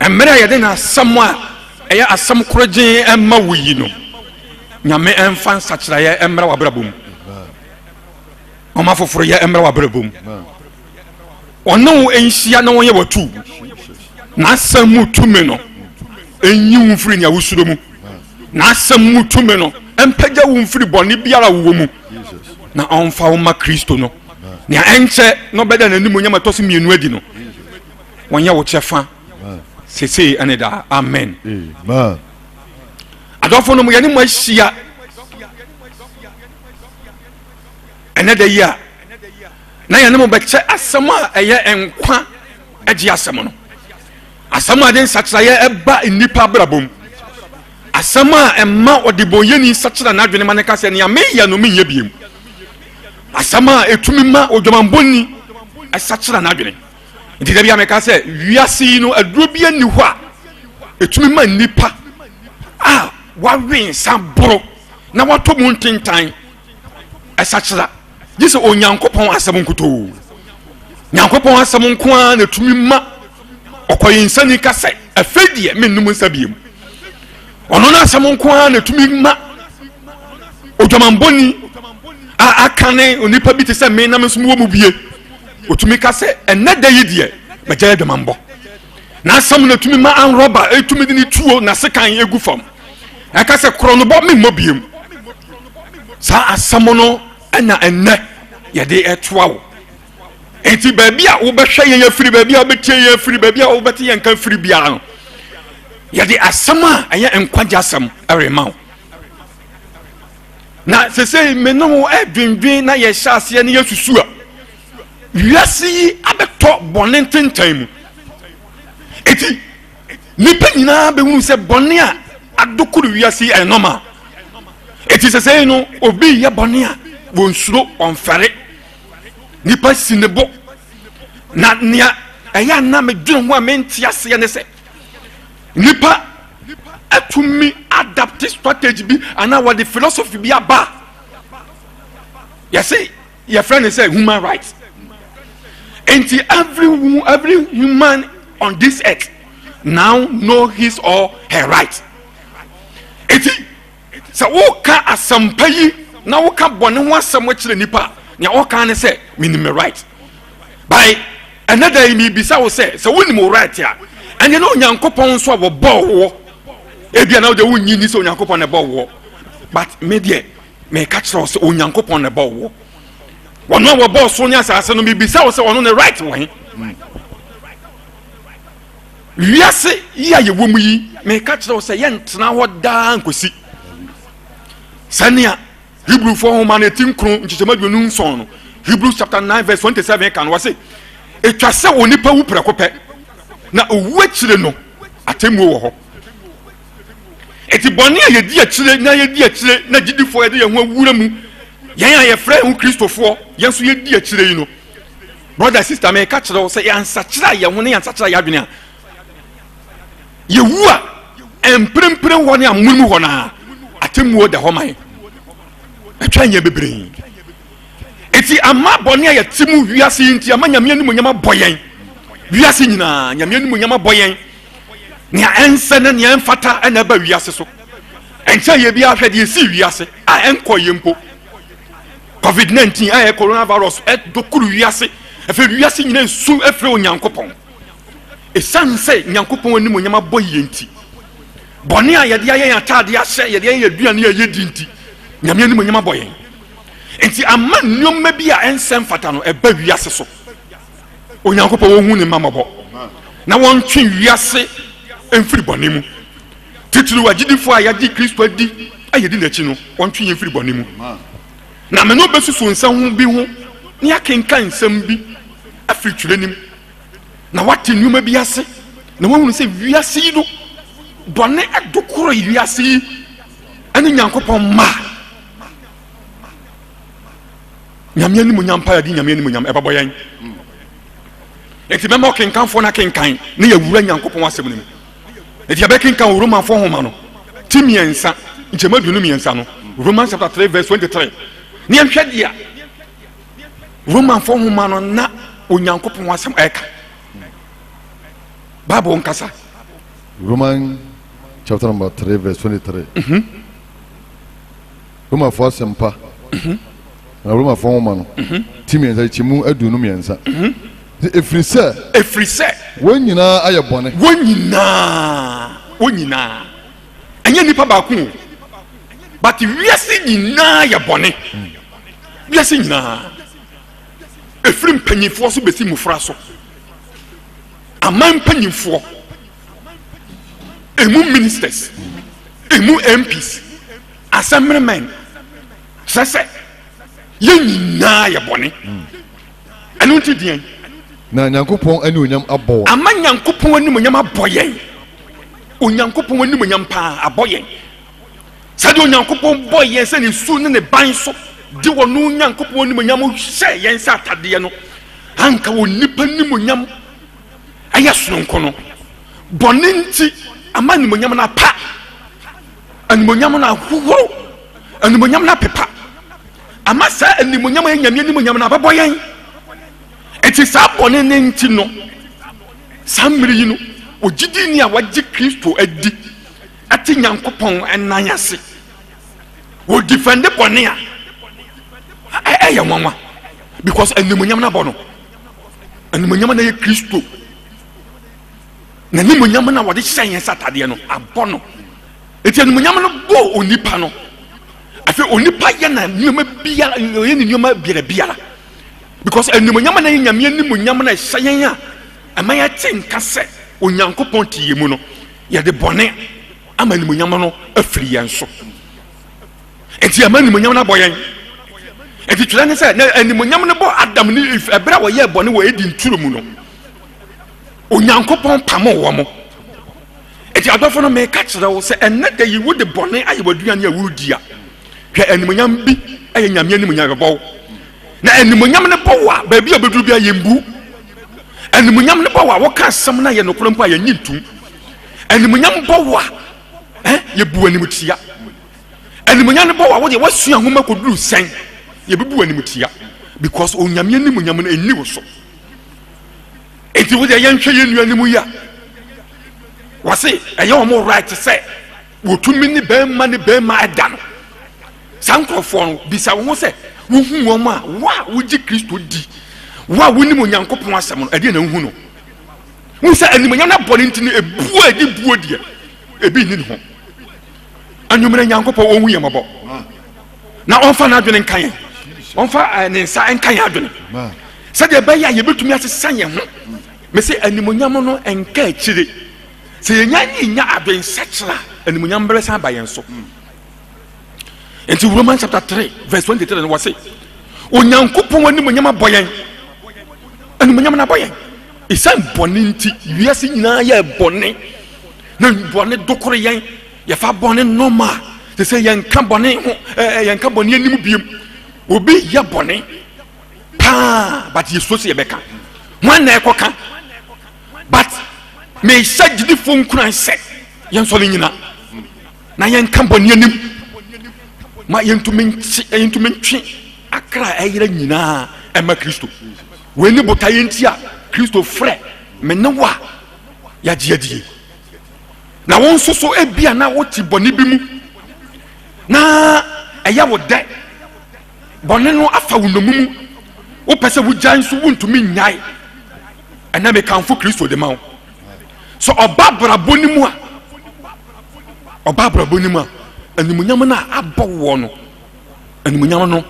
mmerɛ a yɛde n'asɛm a ɛyɛ asɛm korogyen ɛma wo yi no nyame ɛmfa nsakyerɛeɛ ɛmmra w'abrabɔ mu ɔma foforɔ yɛ ɛmmra w'abrabɔ mu ɔne wo nhyia na wɔyɛ watu n'asɛm mu tumi no ɛnyi wo mfiri nea wosuro mu n'asɛm mu tumi no ɛmpagya wo mfiri bɔne biara wowɔ mu na ɔmfa wo ma kristo no nea ɛnkyɛ na ɔbɛda n'anim onyam ɛtɔ so mmienu adi no wɔnyɛ wo kyɛfa sesei ɛne daa amen adɔfo no mu yɛne mo ahyia ɛnɛ da yi a na yɛne mo bɛkyɛ asɛm a ɛyɛ nkwa agye asɛm no asɛm a de nsakyerɛeɛ ɛba nnipa abrabɔ mu asɛm a ɛma ɔdebɔnyɛni sakyera n'adwene ma ne ka sɛ nea meyɛ no menyɛ biom asɛm a ɛtumi ma odwamanbɔni ɛsakyera n'adwene nti dabi a mɛka sɛ wiase yi no aduro bi ani hɔ a ɛtumi ma nnipa a wawe nsa boro na watɔ mu ntentan ɛsakyera gye sɛ onyankopɔn asɛm nkotoo nyankopɔn asɛm nko ara na ɛtumi ma ɔkɔyɛ nsani ka sɛ afei deɛ mennom nsa biemu ɔno no asɛm nko ara na ɛtumi ma odwamanbɔni a aka ne onipa bi te sɛ me nam nso mu wɔ mu bie Otumi ka sɛ, Ɛnnɛ da yi deɛ, magyae adwamammɔ. N'asɛm na etumi ma anrɔba etumi de ne tuo na sekan egu fam. Ɛka sɛ, Korɔnobɔ, memmɔ biem. Saa asɛm no na ɛnnɛ yɛde ɛtoa wo. Enti baabi a wobɛhwɛ yɛn afiri, baabi a wobɛtie yɛn afiri, baabi a wobɛte yɛn nka firi biara no, yɛde asɛm a ɛyɛ nkwagye asɛm rema wo. na sesei me ne wo adwendwen na yɛhyɛ aseɛ ne yɛsusu a wiase yi abɛtɔ bɔne ntentan mu eti nipa nyinaa bɛhunu sɛ bɔne a adokoro wiase yi ɛyɛ normal eti sesei no obi yɛ bɔne a wɔnsuro ɔmfɛre nipa si ne bo na nea ɛyɛ a na medwene ho a mente aseɛ ne sɛ Nnipa atumi adapte strategy bi anaa wɔde philosophy bi aba a yɛse yɛfrɛ no sɛ human rights nti every every human on this earth now know his or her right nti Sɛ woreka asɛmpa yi na woka bɔne ho asɛm kyerɛ nnipa a, nea wɔka ne sɛ, Menim me right. By ɛnɛ da yi, mebisa wo sɛ, sɛ wonim wo right a, ɛnneɛ na Onyankopɔn nso a wɔbɔɔ woɔ, ebia na wode wonnye nni sɛ Onyankopɔn na ɛbɔɔ woɔ. But me deɛ, meka kyerɛ wo sɛ Onyankopɔn na ɛbɔɔ woɔ. Wɔn a wɔbɔɔ soro ne asase no, mebisa wo sɛ ɔno ne right wɔ he? Wiase yi a yɛwɔ mu yi, meka kyerɛ wo sɛ yɛntena hɔ daa nkosi sɛnea Hebrewfoɔ nwoma no ɛti nkron nkyekyɛm aduonu nson no Hebrews chapter 9 verse 27 ka no wɔ se ɛtwa sɛ onipa wu prɛko pɛ na owuo akyire no atemmuo wɔ hɔ ɛti bɔne a yɛdi akyire na yɛdi akyire na gyidifoɔ yɛde yɛn ho awura mu yɛn a yɛfrɛ ho kristofoɔ yɛn nso yɛdi akyire yi no brɔda sista meka kyerɛ wo sɛ yɛansakyerɛ a yɛn ho ne yɛansakyerɛ a yɛadwene a yɛwu a mprempren hɔ ne amono mu hɔ no a atemmuo da hɔ ma yɛn ɛtwa nyɛ bebree nti ama bɔne a yɛte mu wiase yi nti ama nyame anim nyama bɔ yɛn wiase nyinaa nyame anim nyama bɔ yɛn nea ɛnsɛ ne nea ɛmfata ɛna ɛba wiase so ɛnkyɛ yɛ bi ahwɛ deɛ ɛsii wiase a ɛnkɔ yɛ mpo Covid 19 a ɛyɛ coronavirus dɔkoro wiase. Afei wiase nyina nsu afiri Onyankopɔn. Ɛsiane sɛ Nyankopɔn anim onyam abɔ yie nti, bɔne a yɛde ayɛ yɛn ataade ahyɛ, yɛde ayɛ yɛn aduane a yɛdi nti, Nyame anim onyam abɔ yɛn. Nti ama nneɛma bi a ɛnsɛ mfata no ɛba wiase so. Onyankopɔn wɔhu ne mma mmɔbɔ na wɔntwe wiase mfiri bɔne mu. Titiriw agyidifo a yɛagye Kristo adi a yedi n'akyi no, wɔntwe yɛn mfiri bɔne mu. Na me ne wo besusuw nsɛm bi ho na yɛakenkan nsɛm bi afiri twerɛ no mu, na woate nneɛma bi ase, na woahunu sɛ wiase yi no, bɔne do koro yi wiase yi ne Nyankopɔn mma a Nyame animuonyam paa di Nyame animuonyam ɛbɛbɔ yɛn. Enti mɛma ɔkenkanfoɔ no akenkan na yɛawura Nyankopɔn asɛm no mu. ɛti yɛbɛkenka wɔ romanfoɔ homa no ti mmiɛnsa nkyɛmu aduonu mmiɛnsa no romans chapter 3 verse 23 ne yɛnhwɛ deɛ romanfoɔ homa no na onyankopɔn asɛm ɛka bible nkasa roman chapter number 3 verse 23 mm -hmm. romafo asɛmpa na romafo nwoma no ti mmiɛnsa kyɛ mu aduonu mmiɛnsa ɛfiri sɛ ɛfiri sɛ wɔn nyinaa ayɛ bɔne wɔn nyinaa wɔn nyinaa ɛnyɛ nnipa baako o but wiase nyinaa yɛ bɔne wiase nyinaa ɛfiri mpanyinfoɔ so bɛsi mmofra so aman mpanyinfoɔ ɛmu ministers ɛmu mps Asɛmmenemɛn kyerɛ sɛ yɛn nyinaa yɛ bɔne. Hmm. Ɛno nti deɛn? Na Nyankopɔn animuonyam abɔ wɔn. Ama Nyankopɔn animuonyam abɔ yɛn. Onyankopɔn animuonyam paa abɔ yɛn. Sɛdeɛ Onyankopɔn bɔ yɛn sɛ ne su ne ne ban so de wɔn no Nyankopɔn animuonyam hyɛ yɛn sɛ atadeɛ no, anka wɔn nipa animuonyam ɛyɛ sononko no. Bɔne nti ama animuonyam no apa. animonyam no ahohoro animonyam no apepa ama saa animonyam yɛ nyame animonyam no abɛbɔ yɛn ɛti saa bɔne ne nti no saa mmere yi no ogyidi ni a wagye kristo adi ɛte nyankopɔn ɛnan ase wɔdifɛnde bɔne a ɛyɛ nwanwa because animonyam no abɔ no animonyam no yɛ kristo N'animuonyam no a wɔde hyɛ yɛn sɛ atadeɛ no, abɔ no. Enti animuonyam no bɔ onipa no. Afei onipa yɛ na nneɛma biara, ɔyɛ ne nneɛma biara biara. Because animuonyam na yɛ nyame animuonyam na ɛhyɛ yɛn a ɛma yɛte nka sɛ Onyankopɔn te yɛn mu no, yɛde bɔne ama animuonyam no afiri yɛn so. Enti ɛma animuonyam no abɔ yɛn. Enti twerɛ ne sɛ na animuonyam no bɔ Adam ne Eve ɛberɛ a wɔyɛɛ bɔne wɔ Eden turo mu no. Onyankopɔn pamoo wɔn. Enti adɔfo no, meka kyerɛ wo sɛ ɛnnɛ da yi wode bɔne ayɛ w'aduane a woredi a, hwɛ animuonyam bi yɛ Nyame animuonyam yɛbɛbɔ wo. Na animuonyam no bɔ wo a, baabi a wobɛduru biara yɛmbu wo. Animuonyam no bɔ wo a, woka asɛm no a ɛyɛ nokorɛ mpo a yɛnnye ntom. Animuonyam bɔ wo a, eh, yɛbu animtia. Animuonyam no bɔ wo a, wodeɛ woasua nwoma kɔduru sɛn, yɛbɛbu animtia. Because Onyame animuonyam no ɛnni wo so. Enti wo deɛ yɛnhwɛ yɛn nuanom yi a wɔse ɛyɛ wɔn right sɛ wɔtumi ne bɛrima ne bɛrima ɛda no. Saa nkurɔfoɔ no, bisa wo ho sɛ, wohu wɔn a, wo a wogye Kristo di, wo a wonim Onyankopɔn asɛm no, ɛdeɛ na wohu no? Wohu sɛ animuonyam no abɔ no nti no, ebuo a ɛdi buo deɛ, ebi nni ne ho. Anwummerɛ Nyankopɔn ɔhu yɛn mmɔbɔ. na ɔmfa n'adwene nka yɛn ɔmfa eh, ne nsa nka yɛn adwene sɛdeɛ ɛbɛyɛ a yɛbɛtumi asesa yɛn ho me sɛ animonyam no nka akyire sɛ yɛnya ne nya adwensakyera a animonyam bɛbɛsan ba yɛn so nti roman chapter 3 verse 23 no wɔ se onyankopɔn animonyam abɔ yɛn animonyam no abɔ yɛn ɛsiane bɔne nti wiase nyinaa yɛ bɔne na bɔne dokore yɛn Yɛfa bɔne nɔɔma a, te sɛ yɛnka bɔne ho ɛɛ yɛnka bɔne anim biem. Obi yɛ bɔne paa but yɛsuo sɛ yɛbɛka. Wɔn na ɛkɔka but mehyɛ gyidifo nkuran sɛ yɛnsɔre nyina na yɛnka bɔne anim ma yɛntumi nte yɛntumi ntwe akra ɛyera nyinaa ɛma Kristo. Wei ne botaeɛ nti a Kristo frɛ me ne wo a yɛagye adie. Na wo nso so ebia na wote bɔne bi mu, na ɛyɛ wo dɛ, bɔne no afa wo nnommum mu, wopɛ sɛ wogyae nso wontumi nnyae. Ɛnna mekamfo Kristo de ma wo. Sɛ ɔba abrabɔ no mu a, ɔba abrabɔ no mu a, animuonyam no a abɔ woɔ no, animuonyam no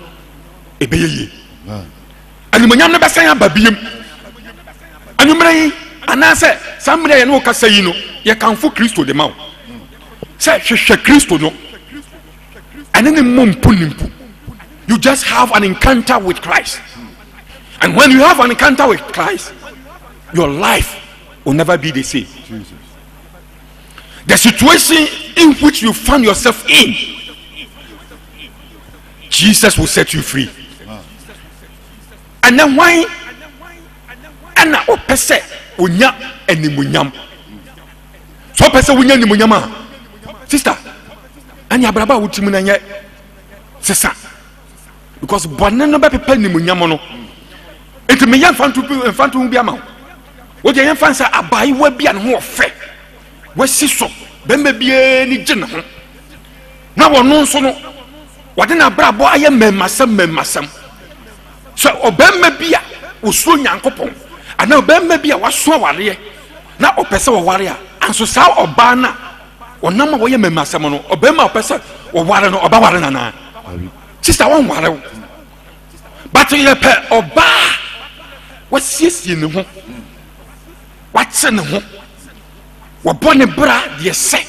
ɛbɛyɛ yie. Animuonyam no bɛsan aba biom. Anwummerɛ yi, anaasɛ saa mmerɛ yɛ ne wo kasa yi no, yɛkamfo Kristo de ma wo sɛ hwehwɛ Kristo no, ɛne ne mmɔ mpu ne mpu. You just have an encounter with Christ. And when you have an encounter with Christ, your life will never be the same. Jesus. The situation in which you find yourself in jesus will set you free ɛnɛ hwan ɛna ɔpɛ sɛ ɔnya animuonyam sɛ ɔpɛ sɛ wonya animuonyam a sister ɛne abraba a wotim no ɛnyɛ sesa because bɔne no bɛpepa animuonyam no nti meyɛ mfanto mfanto ho bi ama wo wogye yɛmfa n sɛ abaayewa bi a ne ho ɔfɛ wasi so bɛma biaa ni gye ne ho na wɔno nso no wɔde n'abrabɔ ayɛ mmɛmmasɛm mmɛmmasɛm sɛ ɔbarima bi a ɔsuo nyankopɔn anaa ɔbarima bi a waso awareɛ na ɔpɛ sɛ ɔware a anso saa ɔbaa no a ɔnam a wɔyɛ mmɛmmasɛm no ɔbarima a ɔpɛ sɛ ɔware no ɔbɛware no anaa sista wɔnware wo but yɛpɛ ɔbaa a wasiesie ne ho wate ne ho wɔbɔ ne bra deɛ sɛ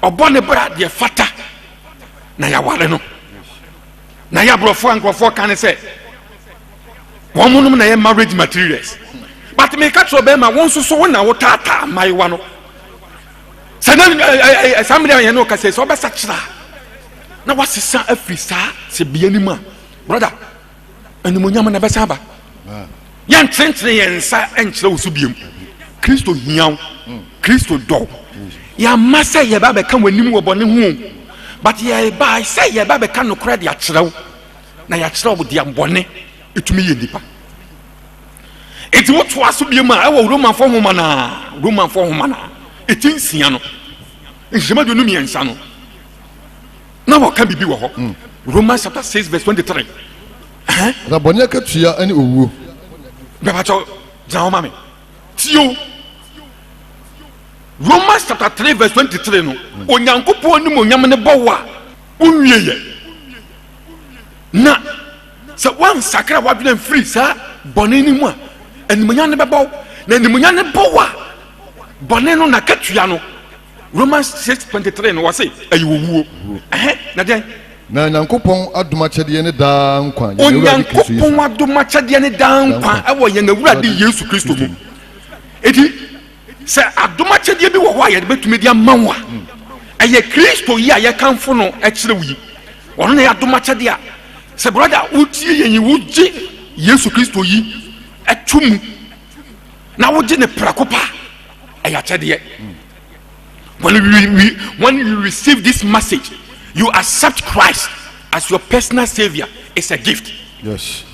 ɔbɔ ne bra deɛ fata na yɛaware no na yɛ aborɔfoɔ a nkurɔfoɔ ka ne sɛ wɔn monom na yɛ marriage materials but meka kyerɛ ɔbɛrima wo nso so wo na wotaataa mmayewa no sɛ na eh, eh, eh, saa mmere a yɛne ɔkasa sɛ ɔbɛsakyera na wasesa afiri saa sɛ bia nim a brother Animuonyam no ɛbɛsan aba. Yɛntenetene yɛn nsa nkyerɛ wo so biom. Kristo hia wo. Hmm. Kristo dɔ wo. Hmm. Yɛamma sɛ yɛba bɛka w'anim wɔ bɔne ho but yɛba sɛ yɛba bɛka nokorɛ de akyerɛ wo na yɛakyerɛ wo deɛ bɔne ɛtumi yɛ nnipa nti wotoa so biom a ɛwɔ romanfoɔ homa no a romanfoɔ homa no a ɛti nsia no nhyɛma duonu mmiɛnsa no Na wɔka biribi wɔ hɔ. Mm. Romans chapter six verse twenty three. Na bɔne akatua ne owuo. Bɛbakyɛw gyina hɔ ma me. Tio. Romans chapter three verse twenty three no. Mm. Onyankopɔn nim onyam ne bɔ wo a wonwie yɛ. Na sɛ wansakra wadwene mfiri saa bɔne no mu a animuonyam no bɛbɔ wo na animuonyam no bɔ wo a bɔne no nakatua no Romans six twenty three no, wɔse ɛyɛ owuo. Ɛhɛ, na dɛn? Na Nyankopɔn adom akyɛdeɛ ne daa nkwa yɛn Awurade Kristo Yesu. Onyankopɔn adom akyɛdeɛ ne daa nkwa ɛwɔ yɛn Awurade Yesu Kristo mu. Eti, sɛ adom akyɛdeɛ bi wɔ hɔ a yɛde bɛtumi de ama wo a, hmm. ɛyɛ Kristo yi a yɛkamfo no ɛkyerɛ wo yi. Ɔno na yɛ adom akyɛdeɛ a sɛ brɔda wotie yɛn yi wogye Yesu Kristo yi ɛto mu. na wogye ne prɛko pa ɛyɛ akyɛdeɛ when you, we, when you receive this message you accept christ as your personal savior it's a gift yes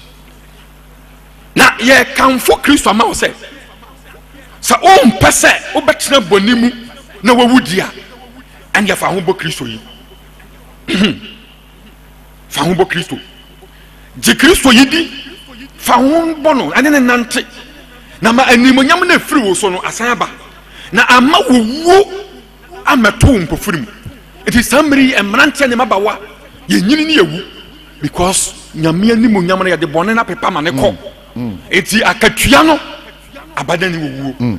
na yɛkamfo kristo ama wo sɛ sɛ wompɛ sɛ wobɛtena bɔne mu na wawu di a ɛne yɛfa ho bɔ kristo yi fa ho bɔ kristo gye kristo yi di fa ho bɔ no ɛne ne nante na ma animonyam no afiri wo so no asan aba na ama wowuo amɛto wo mpofiri mu nti saa mmere yi mmeranteɛ ne mabawa yɛnyini ne yɛwu because nyame animonyam no yɛde bɔne no apepa ma ne kɔ mm, mm. nti akatua no abada ne wɔwuo mm.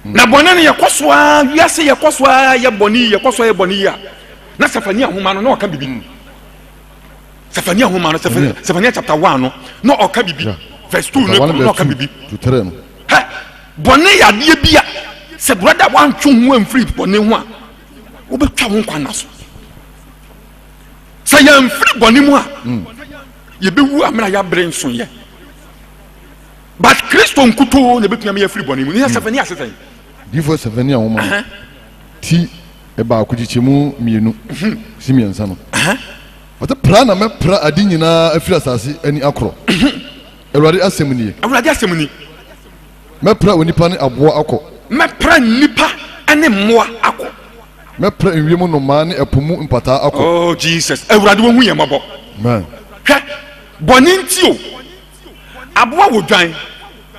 na bɔne no yɛkɔ so a wiase yɛkɔ so a yɛ bɔne yi yɛkɔ so a yɛ bɔne yi a Na Sefania nwoma no na ɔka bibi. Hmm. Sefania nwoma no Sefania chapter one no na ɔka bibi verse two no na ɔka bibi. Hɛ bɔnne yadeɛ bi a sɛ brada wantwe ho amfiri bɔnne ho a wobɛtwa ho nkwa nna so. Sɛ yɛmfiri bɔnne mu a hmm. yɛbɛwu amena yɛabrɛ nso yɛ. But Kristo nkutoo na ɛbɛtumi ama yɛafiri bɔnne mu. Ne yɛ hmm. Sefania ase sɛn? Difo Sefania nwoma no. ti baako kyekyɛ mu mmienu si mmiɛnsa no ɔte pra na mɛpra ade nyinaa afiri asase ani akorɔ awurade asɛm nie awurade asɛm ni mɛpra onipa ne aboa akɔ mɛpra nnipa ne mmoa akɔ mɛpra nwie mu nnomaa ne ɛpo mu mpataa akɔ oh jesus awurade wɔhu yɛn mmɔbɔ hwɛ bɔne nti o aboa wɔ dwan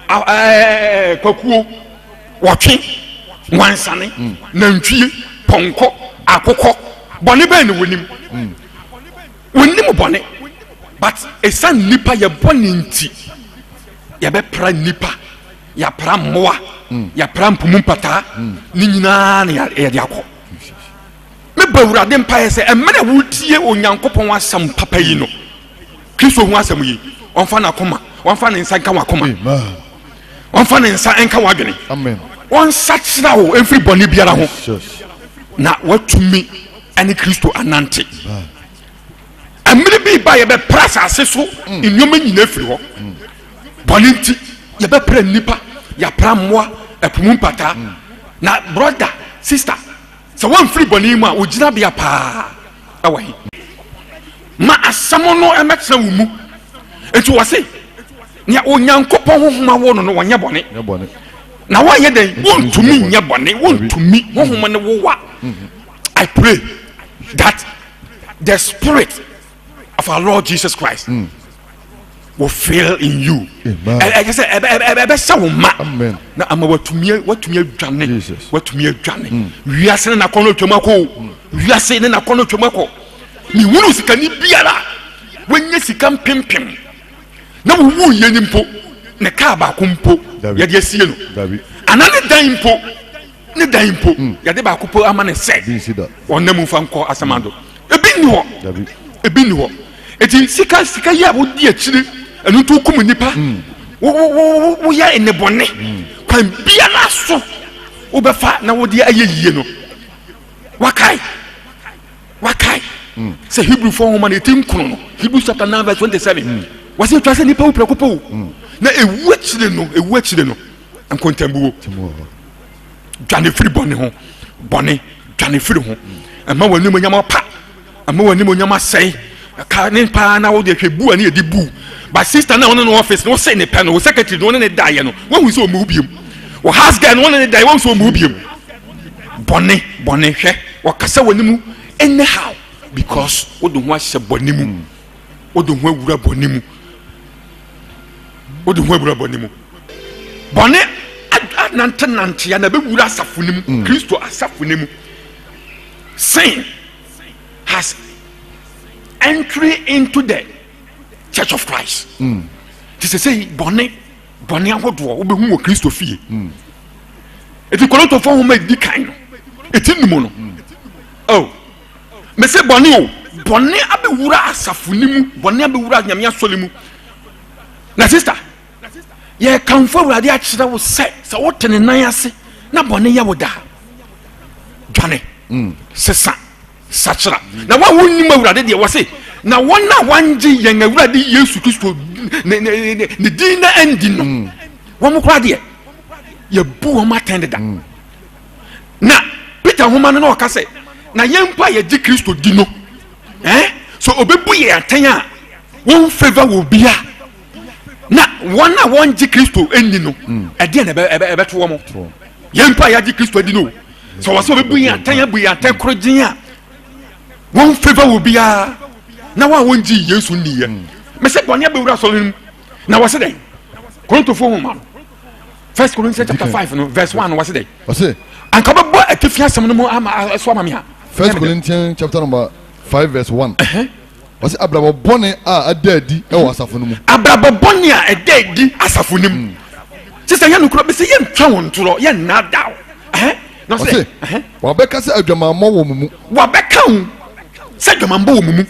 ɛɛ kwakuo wɔtwe wansane mm. nantwie pɔnkɔ akokɔ bɔne bɛn na wɔnim mm. wɔnim bɔne but ɛsiane nnipa yɛbɔ ne nti yɛbɛpra nnipa yɛapra mmoa mm. yɛapra mpomu mpataa ne nyinaa na yɛde akɔ Mebɔ Awurade mpaeɛ sɛ mmerɛ a woretie Onyankopɔn asɛm papa yi no, Kristo ho asɛm yi, wɔmfa n'akoma, wɔmfa ne nsa nka w'akoma, wɔmfa ne nsa nka w'adwene, wɔnsakyera wo mfiri bɔne biara ho, na watumi ne Kristo anante. Mmiri bi ba yɛbɛpra asase so mm. nneɛma nyinaa firi hɔ. Mm. Bɔne nti yɛbɛpra nnipa, yɛapra mmoa, ɛpo mu mpataa. Mm. Na brɔda, sista, Sɛ wɔmfiri bɔne mu a, wo gyinabea paa wɔ he? Ma asɛm no mmɛtena wo mu. Nti wɔ se, nea Onyankopɔn honhom awo no no, wɔnyɛ bɔne. Na wɔnyɛ dɛn? Wontumi nyɛ bɔne. Wontumi. Honhom no wowa. I pray that the spirit of our lord jesus christ mm. will fill in you ɛyɛ sɛ ɛbɛhyɛ wo ma na ama watumi watumi adwane watumi adwane mm. wiase ne nakɔ no twam akɔ mm. wiase ne nakɔ no twam akɔ mehunu sikani biara wanya sika mpempem na wowu yɛ ni mpo ne kaa baako mpo yɛde asie no ana ne dan mpo Ne dan mpo, yɛde baako po ama no sɛ ɔnna mu mfa nkɔ asamando. Ebi nni hɔ. Ebi nni hɔ. Eti sika sika yi a wodi akyiri, ɛno nti wokum nnipa. Wo wo wo woyɛ nnebɔne. Kwan biara so wobɛfa na wode ayɛ yie no. Wakae. Wakae. Sɛ Hebrewfoɔ nwoma no eti nkono no, Hebrews chapter nine verse twenty seven. Wɔsi etwa sɛ nipa wu prɛko pɛ o. Na ewu akyire no, ewu akyire no. nkontambuo dwane firi bɔne ho bɔne dwane firi ho ɛma wɔn anim nyama pa ɛma wɔn anim nyama sɛe ɛka ne paa na wɔde hwɛ bu a ne yɛ di bu ba sista na wɔn ne no ɔfis na wɔsɛ ne pɛ no wɔ sɛkɛtiri na wɔn ne ne da yɛ no wɔn hu sɛ wɔn mu biem wɔ house girl na wɔn ne ne da yɛ wɔn sɛ wɔn mu biem bɔne bɔne hwɛ wɔkasa wɔn anim ɛnɛ how because wɔde ho ahyɛ bɔne mu. wode ho awura bɔne mu wode ho awura bɔne mu bɔne anantenantea na bɛwura asafo no mu mm. kristo asafo no mu sin has entry into the church of christ mm. te sɛ sɛ bɔne bɔne ahodoɔ wobɛhu wɔ kristo fie mm. ɛti kɔlɔntɔfoɔ homa ɛdi kan no ɛti nnumu no oh Mese bɔne o, bɔne abɛwura asafo no mu, bɔne abɛwura Nyame asɔre mu. Na sista, yɛkamfo Awurade akyerɛ wo sɛ, sɛ wote ne nan ase na bɔne yɛ wo daa, dwane, mm. sesa, sakyera. Na wa wonnim Awurade deɛ wɔ se, na wɔn a wɔangye yɛn Awurade Yesu Kristo ne din na andi no, mm. wɔn koraa deɛ, yɛbu wɔn atɛn deda. Mm. na peter nwoma no na ɔka sɛ na yɛn mpo a yɛgye kristo di no eh, so ɔbɛbu yɛ atɛn a wɔn favor wɔ bi a na wɔn a wɔngye kristo nni no hmm. ɛdeɛ na ɛbɛto wɔ mo yɛn mpo a yɛagye kristo adi no sɛ wɔ sɛ ɔbɛbu yɛ atɛn abu yɛ atɛn koro gyen a wɔn favor wɔ bi a na wɔn a wɔngye yesu nni yɛ hmm. mesɛ bɔne abɛwura asɔre no mu na wɔsɛ dɛn korintofoɔ nwoma no first corinthians chapter five no verse one no wɔsi dɛ. wɔsi. anka bɛ bɔ atifi asɛm no mu ama ɛso ama mi ha. first corinthians chapter number five verse one. wɔsi abrabɔ bɔnɛ a ɛda adi ɛwɔ asafo no mu. abrabɔ bɔnɛ a ɛda adi asafo no mu. sisan yɛn nukura bisi yɛn ntwa wɔn ntorɔ yɛn nna da o. wɔsi wabɛka sɛ adwamammɔ wɔ mu mu. wabɛka ho sɛ adwamammɔ wɔ mu mu.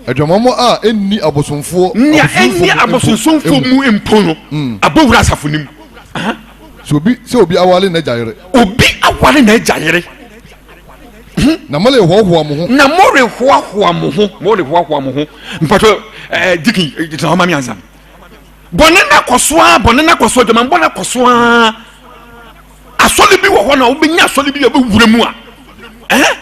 Adwamammɔ a enni abosomfoɔ Nea enni abosonsomfoɔ mu mpo no, abɔ wura asafo no mu. Aha. Sɛ obi sɛ obi aware n'agya yere. Obi aware n'agya yere. Hmm. Na morehoahoa mo ho. Na morehoahoa mo ho. Morehoahoa mo ho. Mpatɔ ɛɛ eh, dikin eh, gyina hɔ ma mi ansa. Bɔne na kɔ so ara, bɔne na kɔ so, adwamammɔ na kɔ so ara. Asɔre bi wɔ hɔ na wobɛnya asɔre bi a wobɛwura mu a. Eh?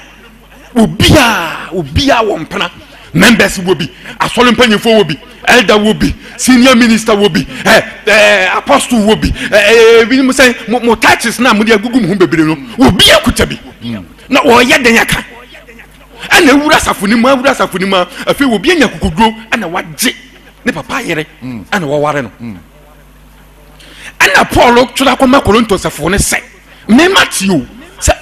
obiara obiara wɔ mpena members wɔ bi asɔre mpanyinfoɔ wɔ bi elder wɔ bi senior minister wɔ bi ɛ eh, ɛ eh, apostle wɔ bi ɛ eh, ɛ ebinom sɛ mo mo titles na mo de agugu mo ho bebree no obi akuta bi na ɔyɛ den aka ɛna ewura asafo ne mu awura asafo ne mu afei obi anya kokoduro ɛna wagye ne papa yere ɛna wɔware no. ɛna paul twerɛ akɔma korinto asafo no sɛ mema te o sɛ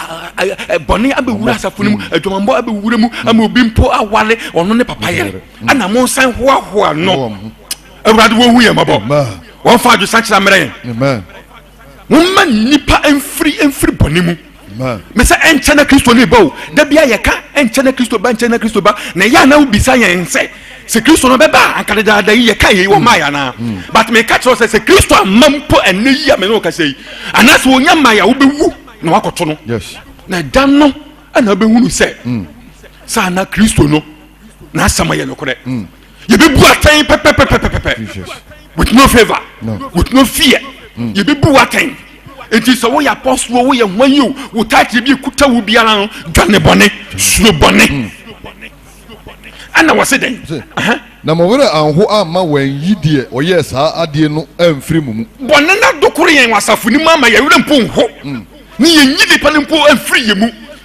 bɔne abɛwura asafo no mu mm. adwamambɔ abɛwura mu mm. ama obi mpo awale ɔno ne papa yere mm. ɛna monsan hoahoa no awurade wɔhu yɛ mmɔbɔ wɔmfa adwesakyera mmerɛ yɛn momma nnipa mfiri mfiri bɔne mu mesɛ ɛnkyɛ na kristo ne ba o da bia yɛka ɛnkyɛ na kristo ba ɛnkyɛ na kristo ba na ɛyɛ ana wobisa yɛn sɛ sɛ kristo no bɛba a anka dedaada yi yɛka yei wɔ maa yɛ anaa hmm. but meka kyerɛ sɛ sɛ kristo amma mpo ɛnɛ yi a mene wo kasɛ yi anaasɛ ɔnya ma yɛ a wobɛwu na wakɔto no na ɛda no ɛna wobɛhunu sɛ hmm. saa na kristo no n'asɛm yɛ nokorɛ hmm. yɛbɛbu atɛn pɛpɛpɛpɛpɛpɛ with no favour with no fear mm. yɛbɛbu atɛn nti sɛ woyɛ apɔsoɔ woyɛ ho ayi o wo taatire bi kuta wo biara no dwane bɔne suro bɔne mm. ɛna wɔ se dɛn na mo werɛ anho amma wɔanyi deɛ ɔyɛɛ saa adeɛ no amfiri mo mu bɔne no adokoro yɛn wɔ asafo no mu ama yɛwerɛ mpo nho mm. ne yɛnyi nipa no mpo amfiri yɛ mu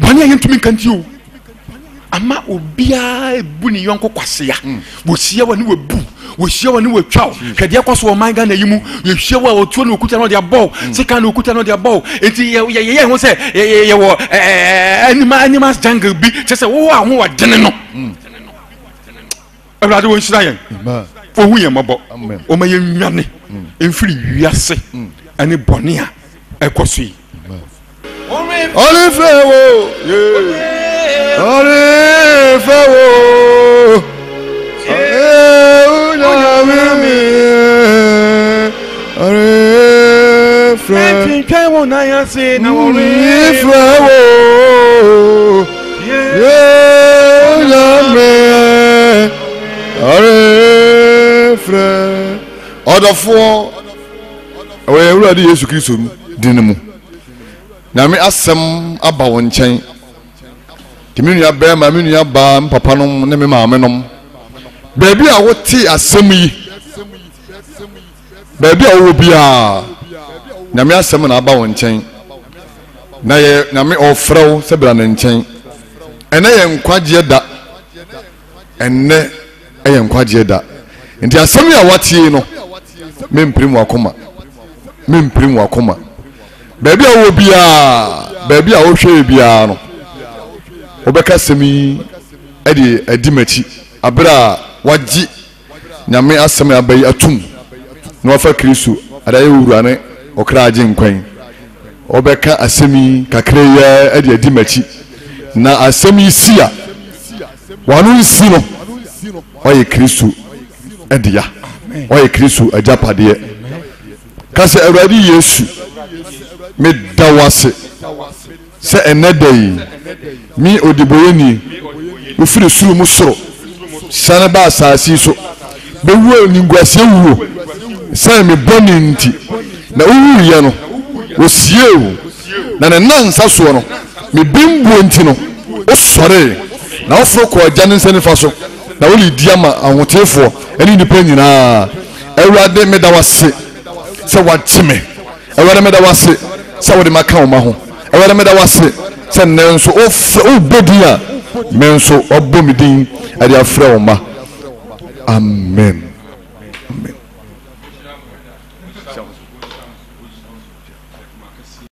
bɔne a yɛntumi nka nti o ama obiara bu ne yɔnko kwasea hmm. wɔhyia wa ne wabu wɔhyia wa ne watwa wo hwɛdeɛ kɔ so ɔman ghana yi mu yɛhyia wo a ɔtuo ne ɔkuta no ɔde abɔ wo hmm. sika ne ɔkuta no ɔde abɔ wo enti yɛyɛ ho sɛ yɛwɔ animals jungle bi kyɛ sɛ wowɔ ahoɔdene no hmm. awurade wɔnhyira yɛn wɔhu yɛn mmɔbɔ wɔma yɛnwane mfiri mm. wiase mm. ɛne bɔne a ɛkɔ so yi ɔrefrɛ wo ɔrefrɛ wo onyame ɔrefrɛ wo na yɛse na wɔrefrɛ wo yɛnyame arefrɛ ɔdɔfoɔ ɛwɔ yɛn awurade yesu kristo din mu nyame asɛm aba wo nkyɛn nti me nua bɛrima me nua baa me papa nom ne me maame nom baabi a wote asɛm yi Baabi a wowɔ biaa Nyame asɛm na aba wo nkyɛn Na yɛ Nyame ɔɔfrɛ wo sɛ bra ne nkyɛn Ɛnɛ yɛ nkwagyeɛ da Ɛnnɛ ɛyɛ nkwagyeɛ da Nti asɛm yi a woatie no Mempirim wakoma Mempirim wakoma Baabi a wowɔ biaa Baabi a wohwɛɛ biaa no Wobɛka asɛm yi ɛde adi m'akyi Aberɛ a wagye Nyame asɛm na abɛyi atum na wafa Kristo ade ayɛ owura ne ɔkra agyenkwa yi. Wɔbɛka asɛm yi kakra yi ara de adi m'akyi. Na asɛm yi si a, wano nsi no, ɔyɛ Kristo dea. Ɔyɛ Kristo agyapadeɛ. Ka sɛ, Awurade Yesu, meda wo ase. Sɛ ɛnnɛ da yi, me ɔdebɔyɛni, wofiri soro mu soro siane ba asaase yi so bɛwu animguaseɛ wuo ɛsiane me bɔne nti, na wowuiɛ no, wɔsiee wo, na ne nnansa soɔ no, me bembuo nti no, wosɔree, na woforo kɔɔ Agya no nsa nifa so, na woredi ama ahoteefoɔ ne nnipa nyina ara. Awurade, meda wo ase sɛ woagye me. Awurade meda wo ase sɛ wode maka wo ma ho. Awurade meda wo ase sɛ nnɛ nso wofrɛ wobɔ din a me nso wabɔ me din ɛde afrɛ wo ma. Amen.